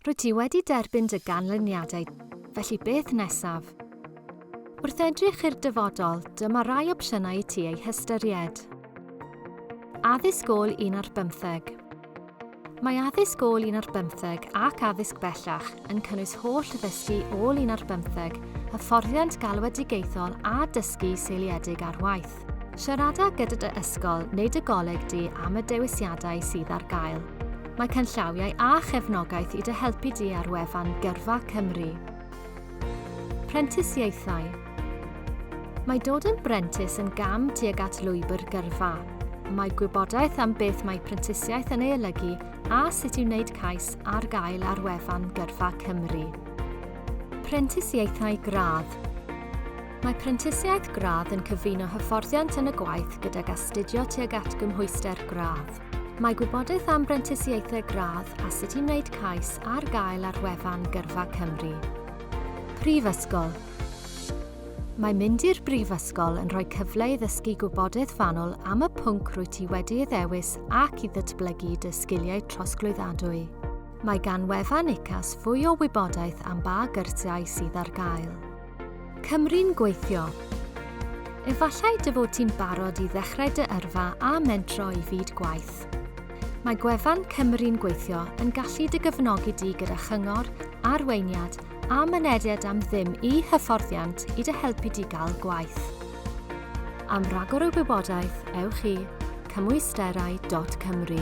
Rwyt ti wedi derbyn dy ganlyniadau, felly beth nesaf? Wrth edrych i'r dyfodol, dyma rai opsiynau i ti eu hystyried. Addysg ôl un ar bymtheg. Mae addysg ôl un ar bymtheg ac addysg bellach yn cynnwys holl ddysgu ôl un ar bymtheg, hyfforddiant galwedigaethol a dysgu seiliedig ar waith. gwaith. Siarada gyda dy ysgol neu dy goleg di am y dewisiadau sydd ar gael. Mae canllawiau a chefnogaeth i dy helpu di ar wefan Gyrfa Cymru. Prentisiaethau Mae dod yn brentis yn gam tuag at lwybr gyrfa. Mae gwybodaeth am beth mae prentisiaeth yn ei olygu a sut i wneud cais ar gael ar wefan Gyrfa Cymru. Prentisiaethau gradd Mae prentisiaeth gradd yn cyfuno hyfforddiant yn y gwaith gydag astudio tuag at gymhwyster gradd. Mae gwybodaeth am brentisiaethau gradd a sut i wneud cais ar gael ar wefan Gyrfa Cymru. Prifysgol Mae mynd i'r brifysgol yn rhoi cyfle i ddysgu gwybodaeth fanwl am y pwnc rwyt ti wedi ei ddewis ac i ddatblygu dy sgiliau trosglwyddadwy. Mae gan wefan UCAS fwy o wybodaeth am ba gyrsiau sydd ar gael. Cymru'n gweithio. Efallai dy fod ti'n barod i ddechrau dy yrfa a mentro i fyd gwaith. Mae gwefan Cymru'n gweithio yn gallu dy gefnogi di gyda chyngor, arweiniad a mynediad am ddim i hyfforddiant i dy helpu di gael gwaith. Am ragor o wybodaeth, ewch i cymwysterau.cymru.